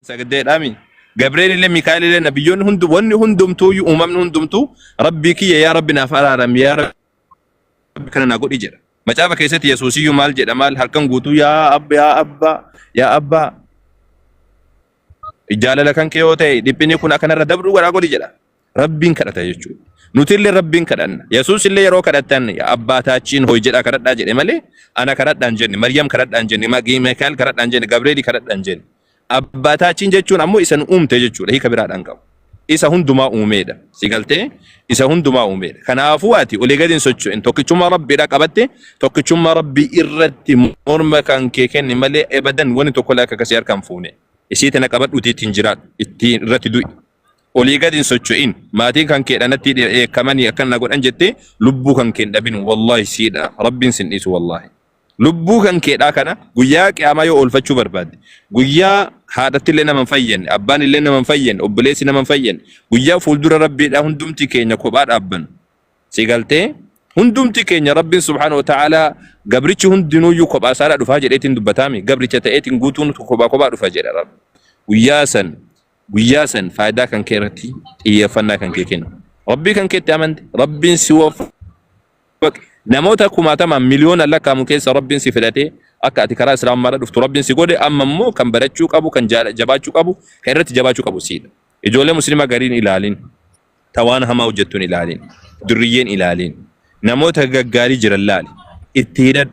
Sagdeedhaami. Gabreelillee Mikaa'elillee nabiyyoonni hundi wanni hundumtuuyyuu uumamni hundumtuu rabbii kiyya yaa rabbi naaf araaram yaa rabbi kana naa godhi jedha. Macaafa keessatti Yesuusiyyuu maal jedha maal halkan guutuu yaa abba yaa abba yaa abba jaalala kan kee yoo ta'e dhiphinni kun akka narra dabru godhaa godhi jedha. Rabbiin kadhata jechuudha. Nuti illee Rabbiin kadhanna. Yesuus illee yeroo kadhattan abbaataachiin hoy jedhaa kadhadhaa jedhe malee ana kadhadhaan jenne, Maryam kadhadhaan jenne, Mikaa'el kadhadhaan jenne, Gabri'eeli kadhadhaan jenne. Abbaataachiin jechuun ammoo isa nu uumte jechuudha. Hiika biraadhaan qabu. Isa hundumaa uumeedha. Si galtee isa hundumaa uumeedha. Kanaafuu ati olii gadi hin socho'in. Tokkichummaa Rabbiidha qabatte tokkichummaa Rabbii irratti morma kan kee kenni malee ebadan wani tokko illee akka akkasii harka hin fuune. Isiitti na qabadhuuti ittiin jiraadhu. Ittiin irratti du'i. olii gad hin socho'in maatiin kan keedha natti dheekkamanii akkan na godhan jettee lubbuu kan keen dhabin wallaahi siidha rabbiin sin dhiisu wallaahi lubbuu kan keedhaa kana guyyaa qiyaamaa yoo oolfachuu barbaadde guyyaa haadhatti illee nama hin fayyadne abbaan illee nama hin fayyadne obboleessi nama hin fayyadne guyyaa fuuldura rabbiidhaa hundumti keenya kophaa dhaabban si galtee hundumti keenya rabbiin subhaanahu wa ta'aalaa gabrichi hundinuuyyuu kophaa isaadhaa dhufaa jedheetiin dubbataami gabricha ta'eetiin guutuun kophaa kophaa dhufa jedha rabbi guyyaa san guyyaa san faayidaa kan kee irratti xiyyeeffannaa kan kee kennu. Rabbii kan keetti amante, Rabbiin si waffa. Namoota kumaatamaan miliyoona lakkaa'amu keessa Rabbiin si filatee akka ati karaa Islaamummaarra dhuftu Rabbiin si godhe amma immoo kan barachuu qabu, kan jaala- jabaachuu qabu, kan irratti jabaachuu qabu siidha. Ijoollee musliimaa gariin ilaalin, tawaan hamaa hojjettuun ilaalin, durriyyeen ilaalin, namoota gaggaarii jiran laali, itti hidhadhu.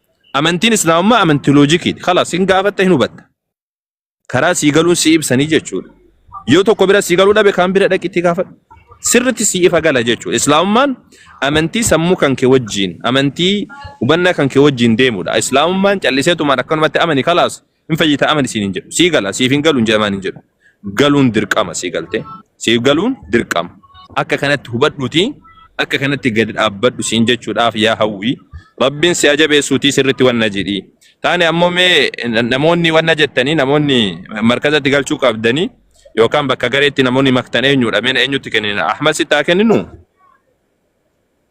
Amantiin Islaamummaa amantii loojikiidha. Kalaas hin gaafatta hin hubatta. Karaa sii galuun sii ibsanii jechuudha. Yoo tokko bira sii galuu dhabe kaan bira dhaqi itti gaafadhu. Sirritti sii ifa gala jechuudha. Islaamummaan amantii sammuu kan kee wajjin, amantii hubannaa kan kee wajjin deemudha. Islaamummaan calliseetumaan akkanumatti amani kalaas Hin fayyitaa amani siin hin jedhu. Sii gala siif hin galu hin jedhamaan hin jedhu. Galuun dirqama sii galtee. Siif galuun dirqama. Akka kanatti hubadhuuti akka kanatti gadi dhaabbadhu siin jechuudhaaf yaa hawwii. Rabbiin si ajabeessuutii sirritti wanna jedhii. Taane ammoo mee namoonni wanna jettanii namoonni markazatti galchuu qabdanii yookaan bakka gareetti namoonni maktan eenyudha mee eenyutti kennina Ahmad sitti haa kenninu?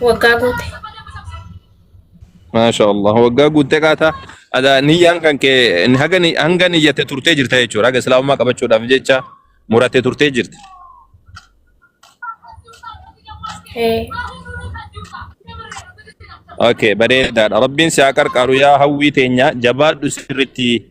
Waggaa guute. Maasha Allah. Waggaa guuttee qaataa. Ada niyyaan kan kee haga ni- hanga niyyatte turtee jirta jechuudha. Haga islaamummaa qabachuudhaaf jecha murattee turtee jirta. Ee, Okay, bareedaadha. Rabbiin si haa qarqaaru yaa hawwii teenya jabaadhu sirriitti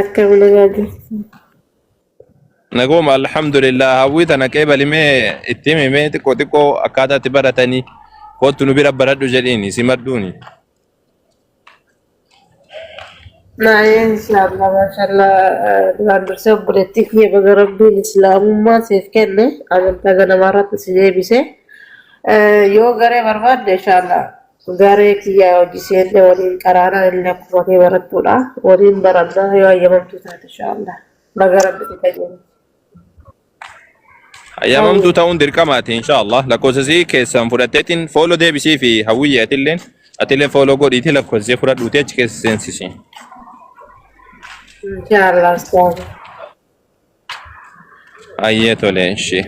Akka bulagaa jirtu. Naguma alhamdulillah hawwii tana qeebalimee itti himimee xiqqoo xiqqoo akkaataa itti baratanii kootu nu bira baradhu jedhiini si madduuni. Maayeen islaamna maashallaa duraan dursee obboleettii kiyya baga rabbiin islaamummaa siif kenne amantaa ganamaa irratti si deebise yoo garee barbaadde inshaallah Garee kiyyaa hojii seenne waliin qaraana inni akkuma kee barattuudha waliin baranna yoo hayyamamtuu taate inshaallah baga rabbi si qajeelche. Hayyamamtuu ta'uun dirqamaati inshaallah lakkoofsasii keessan fudhatteetiin fooloo deebisii fi hawwiyyee atilleen atilleen fooloo godhiitii lakkoofsasii fudhadhuutii achi keessa seensisi. Inshaallah ustaaza. Ayyee tole ishee.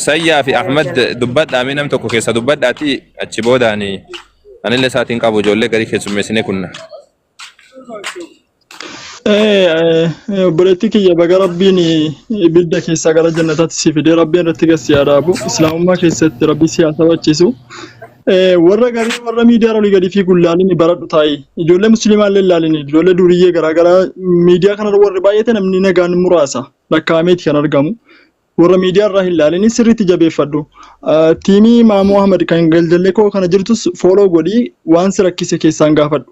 Sayyaa fi Ahmad dubbadhaa mee nam tokko keessa dubbadhaati achi boodaani anillee isaatiin qabu ijoollee garii keessummeessinee kunna. Eh, eh, eh, obboleettii kiyya baga rabbiin eh, ibidda keessaa gara jannataatti si fidee rabbiin irratti gad si haa dhaabu islaamummaa keessatti rabbi si haa sabachiisu Eh, warra garii warra miidiyaa olii gadi fiiguun laalini baradhu taa'i. Ijoollee musliimaa illee laalini. Ijoollee duriyyee garaagaraa miidiyaa kanarra warri baay'ate namni nagaan muraasa lakkaa'ameeti kan argamu. Warra miidiyaa irraa hin laalini sirriitti jabeeffadhu. Ah, Tiimii Maamoo Ahmad kan galjallee koo kana jirtus fooloo godhii waan si rakkise keessaan gaafadhu.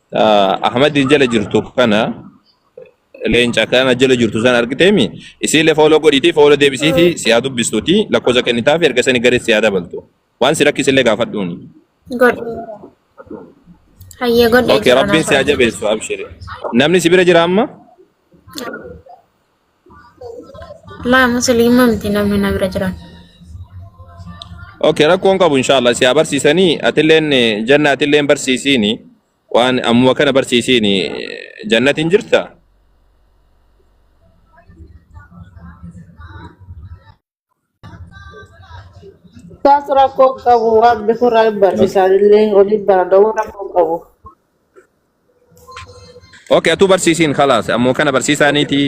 Ah, Ahmadiin jala jirtu kana leenca kana jala jirtu san argiteemi isiillee fooloo godhiitii fooloo deebisiifi si haa dubbistuuti lakkoofsa kennitaafi erga sani garee si haa dabaltu waan si rakkisillee gaafadhuuni. Godhe. Hayyee godhee Okay jira rabbiin si haa naaf. jabeessu abshiri. Namni si bira jira amma? Laa musliima miti namni na bira jiran. Okay, rakkoon qabu inshallah si haa barsiisanii atilleen eh, janna atilleen barsiisiini waan ammuma kana barsiisiini eh, jannatiin jirta Taas rakkoo hin qabu waan bikurraa hin barsiisaan illee waliin baranna waan rakkoo hin qabu. Okay, atuu barsiisiin kalaas ammoo kana barsiisaaniiti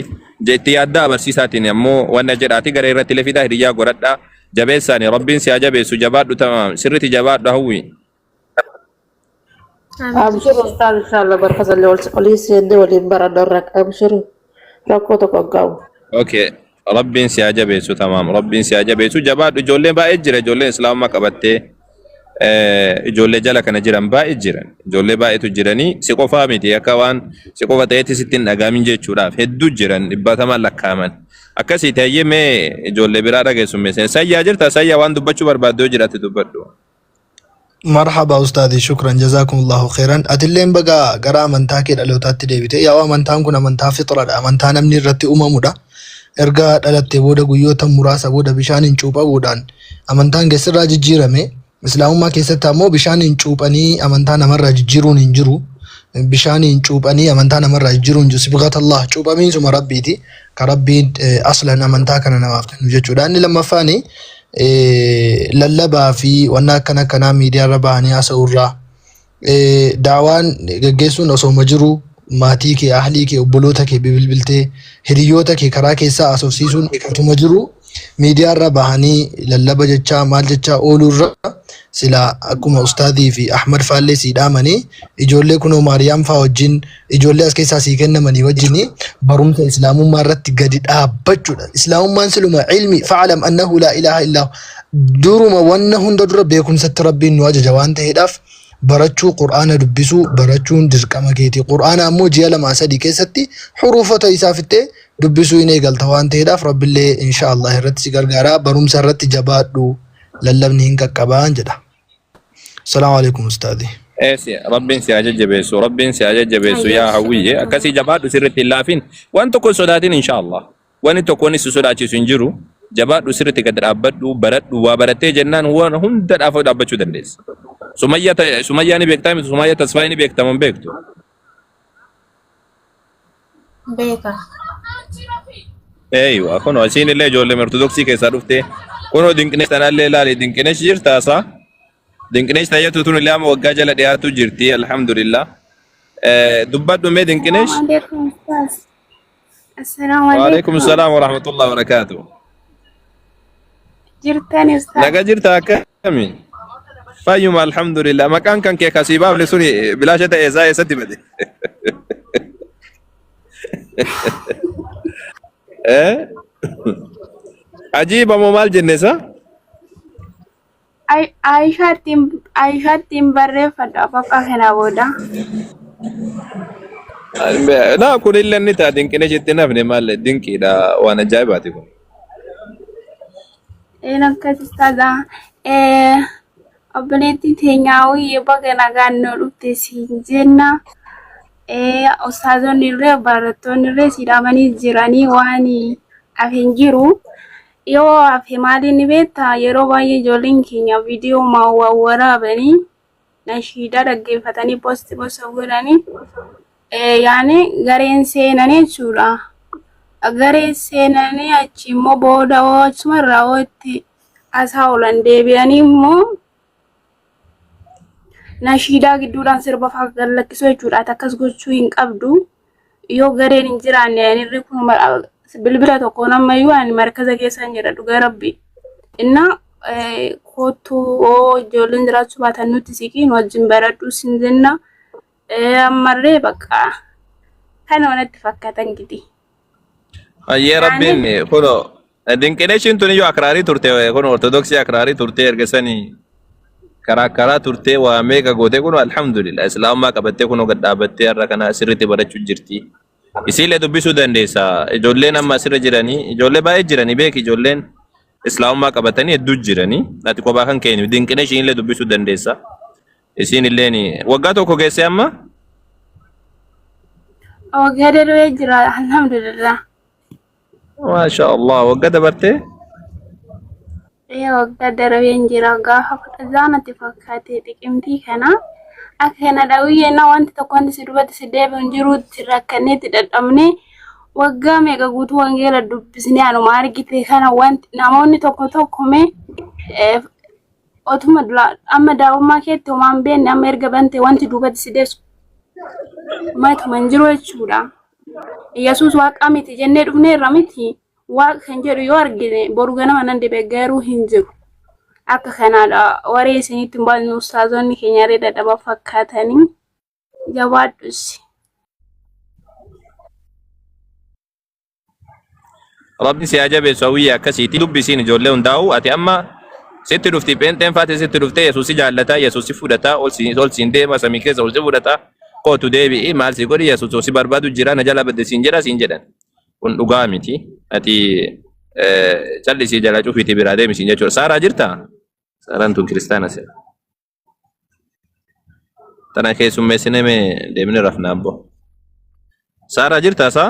jetti yaaddaa barsiisaatiin ammoo wanna jedhaati gara irratti lefidaa hiriyyaa godhadhaa jabeessaani rabbiin si haa jabeessu jabaadhu tamaam sirriti jabaadhu hawwi Abshir ustaz inshallah barka zalle wal wali sende wali bara dorrak abshir rakko to qabu. Okay. Rabbiin si haa jabeessu tamaam. Rabbiin si haa jabeessu. Jabaadhu ijoolleen baay'ee jira. Ijoolleen islaamummaa qabattee eh, ijoollee jala kana jiran baay'ee jiran. Ijoollee baay'eetu jiranii si qofaa miti akka waan si qofa ta'etti sitti hin dhagaamin jechuudhaaf hedduu jiran dhibbatamaan lakkaa'aman. Akkasii ta'ee mee ijoollee biraa dhageessummeessan. Sayyaa jirta sayyaa waan dubbachuu barbaaddu yoo jiraate dubbadhu. marhaba ustaadii shukran jazaakumullahu khairan atilleen baga gara amantaa kee dhalootaatti deebite yaa'u amantaan kun amantaa fixradha amantaa namni irratti uumamudha erga dhalattee booda guyyoota muraasa booda bishaaniin cuuphamuudhaan amantaan keessirraa jijjiirame islaamummaa keessatti ammoo bishaaniin cuuphanii amantaa namarraa jijjiiruun hin jiru bishaaniin cuuphanii amantaa namarraa jijjiiruun hin jiru sibgatallah cuuphamiinsuma rabbiiti ka rabbiin eh, aslan amantaa kana namaaf kennu jechuudha inni lammaffaani lallabaa fi wanna akkana akkanaa miidiyaa irra bahanii haasa'uu irraa daawaan gaggeessuun osooma jiru maatii kee ahlii kee obboloota kee bilbiltee hiriyoota kee karaa keessaa haasofsiisuun otuma jiru miidiyaa irra bahanii lallaba jechaa maal jechaa ooluu irra sila akkuma ustaadii fi ahmad faallee sii dhaamanii ijoollee kunoo maariyaam faa wajjin ijoollee as keessaa sii kennamanii wajjin barumsa islaamummaa irratti gadi dhaabbachuudha. Islaamummaan siluma ilmi fa'alam annahu laa ilaaha illaa duruma wanna hunda dura beekumsatti rabbiin nu ajaja waan ta'eedhaaf barachuu qur'aana dubbisuu barachuun dirqama keeti. Qur'aana ammoo ji'a lamaa sadii keessatti huruufota isaa fixee dubbisuu hin eegalta waan ta'eedhaaf rabbillee inshaallah irratti si gargaara barumsa irratti jabaadhu lallabni hin qaqqabaan jedha. Salaamu alaikum ustaadhi. Eessi rabbiin si haa jajjabeessu rabbiin si haa jajjabeessu Ayyee, yaa hawwiyyee inshallah. akkasii jabaadhu sirriitti hin laafin waan tokko hin sodaatin inshaallah wanni tokko inni si sodaachisu hin jiru jabaadhu sirriitti gad dhaabbadhu baradhu waa barattee jennaan waan hunda dhaafoo dhaabbachuu dandeessa. Sumayyaa ta- Sumayyaa ni beektaa miti Sumayyaa tasfaa ni beektaman beektu. beeka. Eeyyu kun isiin illee ijoollee ortodoksii keessaa dhuftee kunoo dinqinesh tanallee ilaali dinqinesh jirtaa isaa dinqinesh tayyatu tun illee amma waggaa jala dhiyaatu jirti alhamdulillah dubbadhu mee dinqinesh Assalaamu waalaikum salaam warahmatullahi wabarakaatu Jirtan naga jirta akka Kami? Fayyuma alhamdulillah. Maqaan kan kee kasii baafne suni bilaasha ta'e isaa eessatti bade? Eh? Ajiiba moo maal jenne isaa? Ay- Ayishaattiin Ayishaattiin barreeffadha bakka kana booda. Na kun illee inni ta'a dinqina jettee nafne maal dinqiidha waan ajaa'ibaati kun. Een akkas ustaaza obboleettii teenyaa wayye baga nagaan nu dhufte siin jenna. Eh, Ustaazonni illee barattoonni illee si dhaabanii jiranii waan hafe hin jiru. Yoo hafe maaliin ni beekta yeroo baay'ee ijoolleen keenya viidiyoo waraabanii nashiidaa dhaggeeffatanii posti posta godhanii yaani gareen seenanii jechuudha. Gareen seenanii achi immoo booda hoo achuma irraa hoo itti asaa oolan deebi'anii immoo nashiidaa gidduudhaan sirba fa'aa gallakkisuu jechuudha. Ati akkas gochuu hin qabdu. Yoo gareen hin jiraanne ani irri kun bilbila tokko nama iyyuu ani markaza keessa hin jira dhugaa rabbi. Innaa kottuu oo ijoolleen jiraachuu baatan nutti siqiin wajjin baradhuu sin jenna. Ammarree bakka kana wanatti fakkaatan gidi. Hayyee rabbiin kunoo Dinqineeshiin tun iyyuu akraarii turte kun ortodoksii akraarii turte erga sanii karaa karaa turte waa meeqa goote kun alhamdulillah islaamummaa qabattee kun gad dhaabattee har'a kana sirriitti barachuu jirti. Isiillee dubbisuu dandeessa. Ijoolleen amma asirra jiranii ijoollee baay'ee jiranii beeki ijoolleen islaamummaa qabatanii hedduu jiranii ati kophaa kan keenya dinqineeshiin illee dubbisuu dandeessa. Isiin illeen waggaa tokko geessee amma Waggaa darbee jira alhamdulillah. Maasha Allah wagga dabarte. Ee waggaa darbeen jira gaafa kudha jaanatti fakkaate xiqimtii kana akka kana dhawiyyee na wanti tokko wanti si dubbatti si deebi'u hin jiruutti rakkanneetti dadhabne waggaa meeqa guutuu wangeela dubbisnee anuma argite kana wanti namoonni tokko tokko mee eh, otuma dura- amma daa'ummaa keetti homaan beenne amma erga bante wanti dubbatti si deessu matuma hin jiru jechuudha. Yesuus waaqa miti jennee dhufneerra miti waaqa kan jedhu yoo argine boru ganama nan dibe garuu hin jiru. Akka kanaadha waree isinitti hin baasnu ustaazonni keenya illee dadhaba fakkaatanii jabaadhus. Rabbi si haa jabeessu hawwiyyee akkasiiti dubbisiin ijoollee hundaa'u ati amma sitti dhufti pheenxeen faati sitti dhuftee yesuus si jaallata yesuus si fudhata ol si ol siin deema samii keessa ol si fudhata kootu deebi'i maal si godhi yesuus si barbaadu jira na jala badde siin jedha siin jedhan kun dhugaa miti ati eh, callisii jala cufiitii biraa deemi siin jechuudha saaraa jirta saaraan tun kiristaana seera tana keessummeessinee mee deemni rafnaa abboo saaraa jirta saa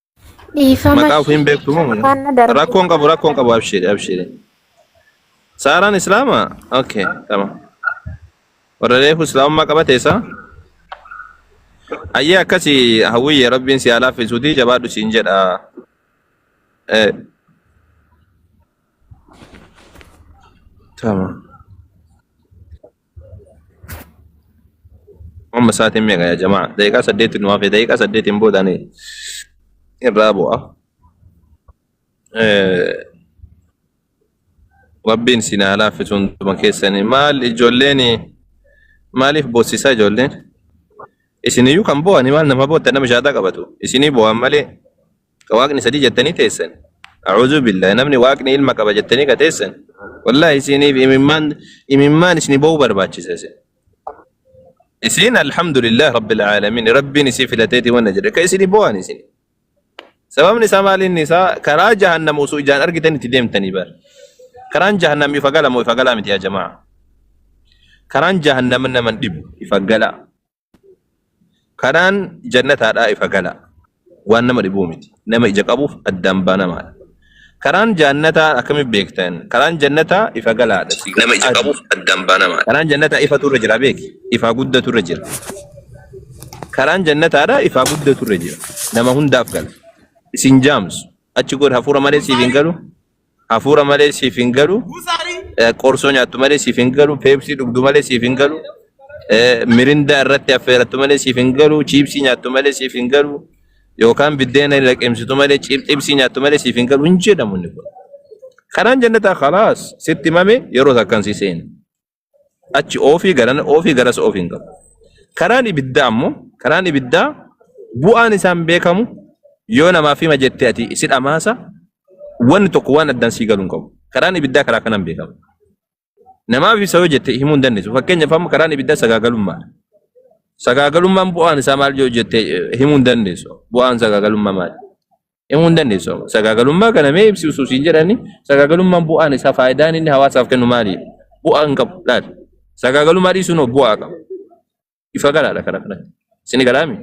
Dhiifama. Maqaa ofii hin beektu moo? Afaan na darbu. Rakkoon qabu rakkoon qabu abshiiri abshiiri. Saaraan islaama? Okay tamam. Warra reefu islaamummaa qabate isaa? Ayyee akkasi hawwiyye rabbiin si haa laaffisuuti jabaadhu siin jedha. Eh, Tamam. Amma sa'aatiin meeqa yaa jamaa? Daqiiqaa saddeetti nu hafe. Daqiiqaa saddeetiin booda ani irraa bu'a. Eh, Rabbiin isin haa laaffisu hunduma keessanii. Maal ijoolleen maaliif boossisaa ijoolleen? Isiniyyuu kan boo'ani maal nama bootta nama shaataa qabatu. Isinii boo'an malee ka waaqni sadii jettanii teessan a'uuzu billahi namni waaqni ilma qaba jettanii ka teessan wallahi isiniif imimmaan imimmaan isini ba'uu barbaachisa isin isin alhamdulillah rabbil aalamiin rabbiin isii filateeti wanna jedhe ka isini bo'an isin sababni isaa maaliin isaa karaa jahannam osoo ijaan argitan itti deemtanii bar karaan jahannam ifa gala moo ifa galaa miti yaa jamaa karaan jahannam naman dhibu ifa galaa Karaan jannataadhaa ifa galaa. Waan nama dhibuu miti. Nama ija qabuuf addaan banamaadha. Karaan jaannataa akkamitti beektan? Karaan jannataa ifa galaadha. Si nama ija qabuuf addaan banamaadha. Karaan jannataa ifatu irra jira beeki. Ifaa guddatu irra jira. Karaan jannataadhaa ifaa guddatu irra jira. Nama hundaaf gala. Isin jaamsu. Achi godha hafuura malee siif hin galu. Hafuura malee siif hin galu. Eh, Qorsoo nyaattu malee siif hin galu. Peepsii dhugdu malee siif hin galu. Eh, Mirindaa irratti affeerattu malee siif hin galu. Chiipsii nyaattu malee siif hin galu. Yookaan biddeena hin laqimsitu malee ciip- xibsii nyaattu malee siif hin galu. Hin jedhamu inni kun. Kanaan jennataa khalaas sitti mame yeroo takkan si seena. achi oofii garana oofii garas oofi hin qabu. Karaan ibiddaa ammoo karaan ibiddaa bu'aan isaan beekamu yoo namaaf hima jettee ati si dhamaasa wanni tokko waan addaan sii galu hin qabu. Karaan ibiddaa karaa kanaan beekama. Namaaf isa yoo jette himuu hin dandeessu. Fakkeenyaaf amma karaan ibiddaa sagaagalummaadha. Sagaagalummaan bu'aan isaa maal yoo jette eh, himuu hin dandeessu. Bu'aan sagaagalummaa maali? himuu hin dandeessu. Sagaagalummaa kana mee ibsi usuus hin jedhani sagaagalummaan bu'aan isaa faayidaan inni hawaasaaf kennu maali? Bu'aa hin qabu laal. Sagaagalummaa dhiisuun hoo bu'aa qaba. Ifa galaadha kana kanatti. Isin galaami.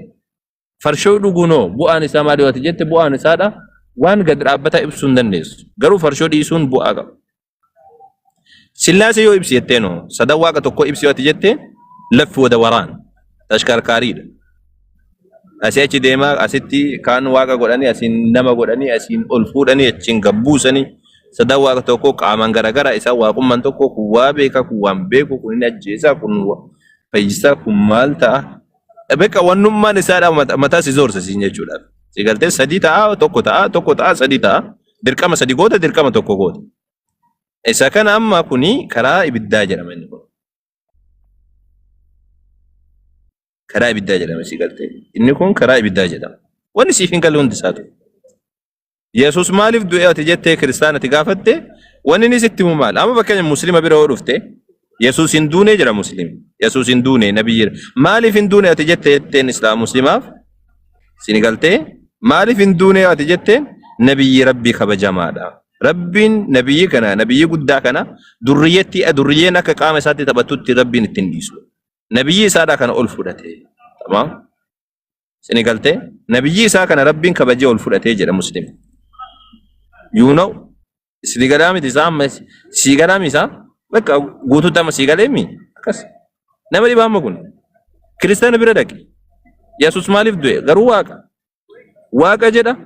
Farshoo dhuguun hoo bu'aan isaa maali yoo ati jette bu'aan isaadha waan gad dhaabbataa ibsuu hin dandeessu. Garuu farshoo dhiisuun bu'aa qaba. Sillaasee yoo ibsi jetteen hoo sadan waaqa tokkoo ibsi yoo ati jette laffi wada waraan tashkarkaariidha. Asii achi deemaa asitti kaan waaqa godhanii asiin nama godhanii asiin ol fuudhanii achiin gabbuusanii sadan waaqa tokkoo qaamaan garagara isaan waaqummaan tokko kun waa beeka kun waan beeku kun hin ajjeesaa kun wa- fayyisaa kun maal ta'a. Beeka wannummaan isaadha mataa si zoorsa siin jechuudha. Si galtee sadii ta'a tokko ta'a tokko ta'a sadii ta'a. Dirqama sadi goota dirqama tokko goota. Isa kana amma kuni karaa ibiddaa jedhama inni kun. Karaa ibiddaa jedhama si galtee. Inni kun karaa ibiddaa jedhama. Wanni siif hin galle hundi isaatu. Yesuus maaliif du'e ati jettee kiristaanati gaafatte wanni inni sitti himu maal? Amma fakkeenya muslima bira yoo dhufte Yesuus hin duune jira muslim. Yesuus hin duune nabii jira. Maaliif hin duune ati jette jetteen islaam muslimaaf sini galtee maaliif hin duune ati jetteen nabiyyi rabbii kabajamaadha. Rabbiin nabiyyi kana nabiyyi guddaa kana durriyyeetti durriyyeen akka qaama isaatti taphattutti rabbiin ittiin dhiisu. Nabiyyi isaadhaa kana ol fudhate. Tamam. Sini galtee? Nabiyyii isaa kana rabbiin kabajee ol fudhatee jedha muslim. You know? Sini galaa miti isaa amma sii galaa miti isaa? Bakka guutuutti amma sii galee mi? Akkas. Nama dhibaa amma kun. Kiristaana bira dhaqi. Yesus maaliif du'e? Garuu waaqa. Waaqa jedha.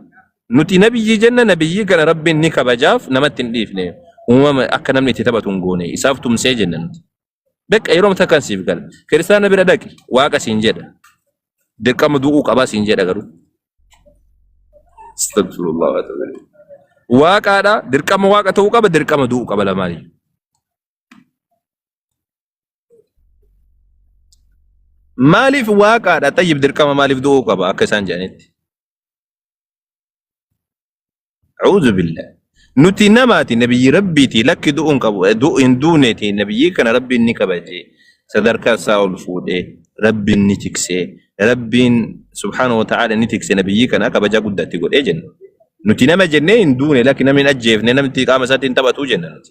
Nuti nabiyyii jenna nabiyyii kana rabbiin ni kabajaaf namatti hin dhiifne. Uumama akka namni itti taphatu hin goone. Isaaf tumsee jenna nuti. Beqa yeroo mata kan siif gala. Kiristaana bira dhaqi waaqa siin jedha. Dirqama du'uu qabaa siin jedha garuu. Astagfirullah wa ta'ala. Waaqaadha dirqama waaqa ta'uu qaba dirqama du'uu qaba lamaanii. Maaliif waaqaadha xayyib dirqama maaliif du'uu qaba akka isaan jedhanitti. A'uuzu billah. Nuti namaati nabiyyi rabbiiti lakki du'uun qabu du'u hin duuneeti nabiyyi kana rabbiin ni kabaje sadarkaa isaa ol fuudhee rabbiin ni tiksee rabbiin subhaanahu wa ta'aala ni tikse nabiyyi kana kabajaa guddaatti godhee jenna. Nuti nama jennee hin duune lakki namni hin ajjeefne namni qaama isaatiin taphatuu jenna nuti.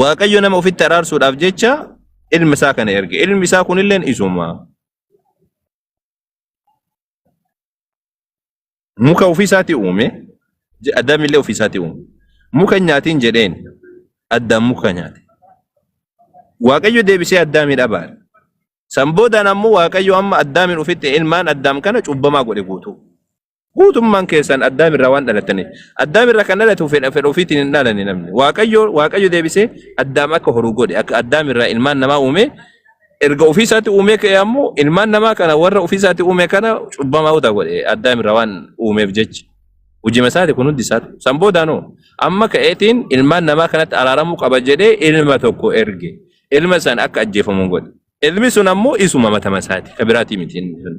Waaqayyo nama ofitti araarsuudhaaf jecha ilma isaa kana erge. Ilmi isaa kunilleen isuma. Muka ofii isaatii uume, je- Addaam illee ofii isaatii uume. Muka hin nyaatiin jedheen, Addaam muka nyaate. Waaqayyo deebisee Addaamiin abaare. San boodaan ammoo Waaqayyo amma Addaamiin ofitti ilmaan Addaam kana cubbamaa godhe guutuu. Guutummaan keessan Addaam irraa waan dhalataniif. Addaam irraa kan dhalatu fedha fedha ofiitiin hin dhalane namni. Waaqayyo Waaqayyo deebisee Addaam akka horu godhe. Akka Addaam irraa ilmaan namaa uume. Erga ofiisaatti uumee ka'e ammoo ilmaan namaa kana warra ofiisaatti uume kana cubbamaa'uuta godhe. Addaam irraa waan uumeef jecha. Hojima isaati kun hundi isaati. San boodaanoo amma ka'eetiin ilmaan namaa kanatti araaramuu qaba jedhee ilma tokko erge. Ilma san akka ajjeefamu godhe. Ilmi sun ammoo isuma matama isaati. Ka biraatii miti. inni sun.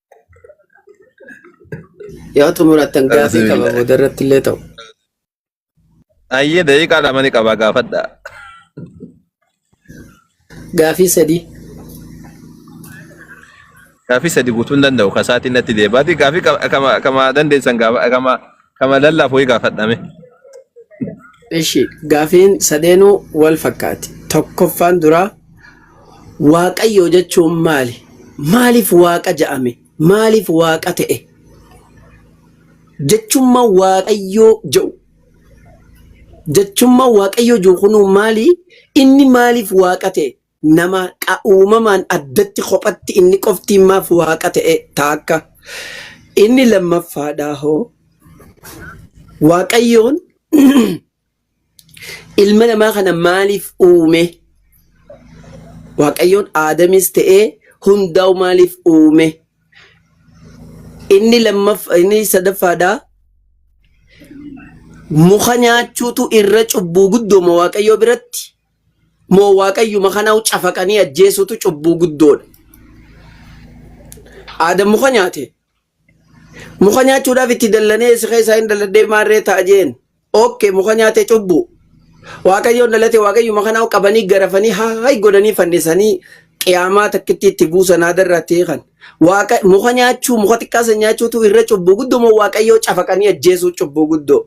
Yoo xumurattan gaafii qaba Alhamdulillah. booda irratti illee ta'u. Ayyee daqiiqaa lama ni qaba gaafadha. Gaafii sadii. Gaafii sadi guutuu hin danda'u kasaatiin natti deebaati. Gaafii kama kama dandeessan gaafa kama Kama lallaaf wayii gaafadha mee. Ishi gaafiin sadeenuu wal fakkaati. Tokkoffaan duraa waaqayyoo jechuun maali? Maaliif waaqa ja'ame? Maaliif waaqa ta'e? Jechumma waaqayyoo ja'u. Jechumma waaqayyoo jiru kunuu maali? Inni maaliif waaqa ta'e? nama qa uumamaan addatti kophatti inni qofti maaf waaqa ta'e taakka. Inni lammaffaadhaa hoo Waaqayyoon ilma namaa kana maaliif uume? Waaqayyoon Aadamis ta'ee hundaa'u maaliif uume? Inni lammaf inni sadaffaadhaa muka nyaachuutu irra cubbuu guddooma Waaqayyoo biratti moo waaqayyuma kanau cafaqanii ajjeesuutu cubbuu guddoodha. Aadam muka nyaate. Muka nyaachuudhaaf itti dallanee isa keessaa hin dalladhee maarree ta'a jeen. Okke muka nyaate cubbuu. Waaqayyoon dhalate waaqayyuma kanau qabanii garafanii haay godhanii fannisanii qiyaamaa takkitti itti buusan aadarraa ta'e kan. Waaqa muka nyaachuu muka xiqqaa san nyaachuutu irra cubbuu guddoo moo waaqayyoo cafaqanii ajjeesuu cubbuu guddoo.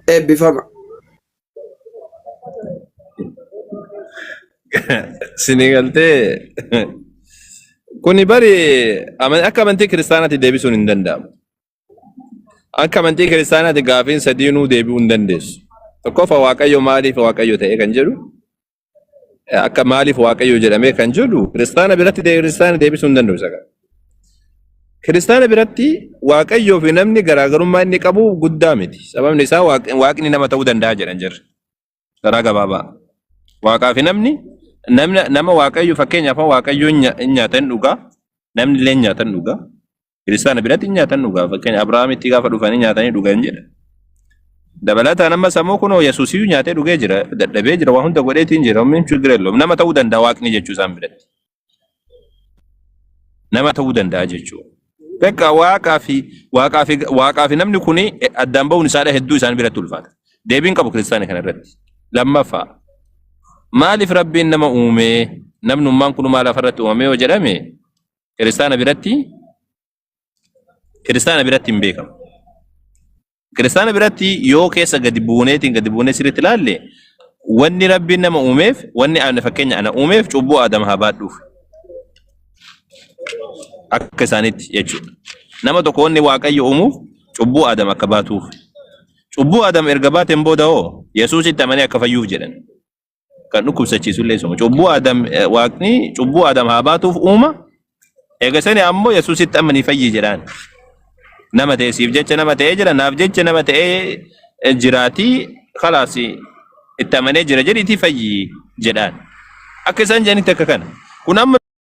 Eebbifama. Sinii galtee kuni bari aman- akka amantii kiristaanaatti deebisuun hin danda'amu. Akka amantii kiristaanaatti gaafiin sadiinuu deebi'uu hin dandeessu. Tokkoffaa Waaqayyo maaliif Waaqayyo ta'e kan jedhu Akka maaliif waaqayyo jedhamee kan jedhu kiristaana biratti ta'e kiristaana deebisuu hin danda'u isa kana. Kiristaana biratti waaqayyoo fi namni garaagarummaa inni qabu guddaa miti. Sababni isaa Waaq- waaqni nama ta'uu danda'a jedhan jirra. Karaa gabaabaa. Waaqaa fi namni namna- nama waaqayyo fakkeenyaaf waaqayyo hin nya- hin nyaatan dhugaa namni illee hin nyaatan dhugaa. Kiristaana biratti nyaatan dhugaa fakkeenya Abrahaamitti gaafa dhufanii nyaatanii dhugan jedha. Dabalataan amma sammuu kunoo Yesuusiyyuu nyaatee dhugee jira dadhabee jira waan hunda godheetiin jira ummiin chigir elloom nama ta'uu danda'a waaqni jechuu isaan biratti. Nama ta'uu danda'a jechuu. Beekaa waaqaa fi waaqaa fi waaqaa fi namni kuni addaan ba'uun isaadha hedduu isaan biratti ulfaata. Deebiin qabu kiristaana kana irratti. Lammaffaa maaliif rabbiin nama uumee namnummaan kun maal lafarratti uumamee yoo jedhame Kiristaana biratti kiristaana biratti hin beekamu. Kiristaana biratti yoo keessa gadi buuneetiin gadi buunee sirriitti ilaalle wanni rabbiin nama uumeef wanni ana fakkeenya ana uumeef cubbuu Adam haa baadhuuf akka isaaniitti jechuudha. Nama tokko wanni waaqayyo uumuuf cubbuu Adam akka baatuuf. Cubbuu Adam erga baateen booda hoo Yesuusitti amanee akka fayyuuf jedhan. kan dhukkubsachiisu illee isuma. Cubbuu Adam eh, waaqni cubbuu Adam haa baatuuf uuma. Eega sani ammoo Yesuusitti amma ni fayyi jedhaan. Nama ta'e siif jecha nama ta'ee jira naaf jecha nama ta'ee eh, jiraatii kalaas itti amanee jira jedhiitii fayyi jedhaan. Akka isaan jedhanitti akka kana. Kun amma